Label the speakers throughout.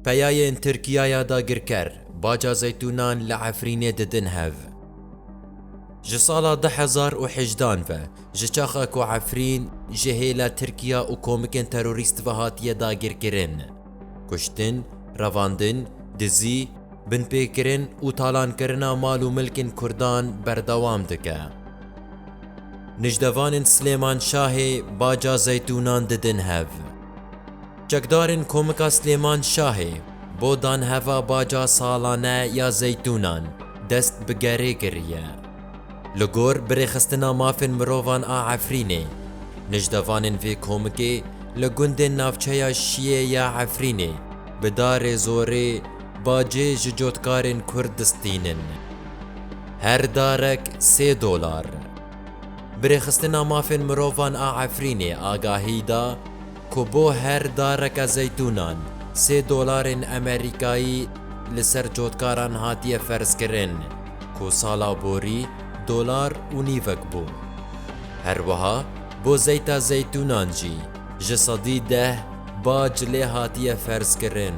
Speaker 1: Peyayên Tirkiyaya dagirker, baca zeytûnan li Efrînê didin hev. Ji sala du hezar û hejdan ve, ji çaxa ku Efrîn ji hêla Tirkiya û komikên terorîst ve hatiye dagirkirin, kuştin, revandin, dizî, binpêkirin û talankirina mal û milkên Kurdan berdewam dike. Nijdevanên Silêmanşahê, baca zeytûnan didin hev. Çekdarên Komika Silêman Şahê bo danheva baca salane ya zeytûnan dest bi gerê kiriye. Li gor birêxistina mafên mirovan a Efrînê, nijdevanên vê komikê li gundên navçeya Şiyê ya Efrînê bi darê zorê bacê ji cotkarên Kurd distînin. Her darek sê dolar. Birêxistina mafên mirovan a Efrînê agahî da, ku bo her dareke zeytûnan sê dolarên Amerîkayî li ser cotkaran hatiye ferzkirin ku sala borî dolar û nîvek bû. Her wiha bo zeyta zeytûnan jî ji sedî deh bac lê hatiye ferzkirin.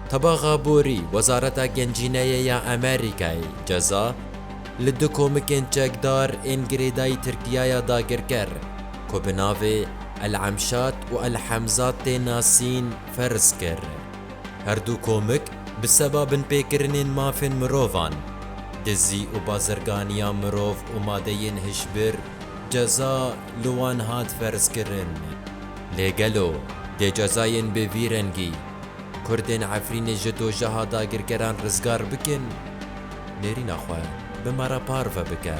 Speaker 1: Tebaxa borî Wezareta Gencîneyê ya Amerîkayê ceza li du komikên çekdar ên girêdayî Tirkiyaya dagirker, ku bi navê El Emşat û El Hemzat tê nasîn ferz kir. Herdû komik bi seba binpêkirinên mafên mirovan, dizî û bazirganiya mirov û madeyên hişbir ceza li wan hat ferzkirin. Lê gelo dê cezayên bi vî rengî kurdên Efrînê ji dojeha dagirkeran rizgar bikin? Nêrîna xwe bi me re parve bike.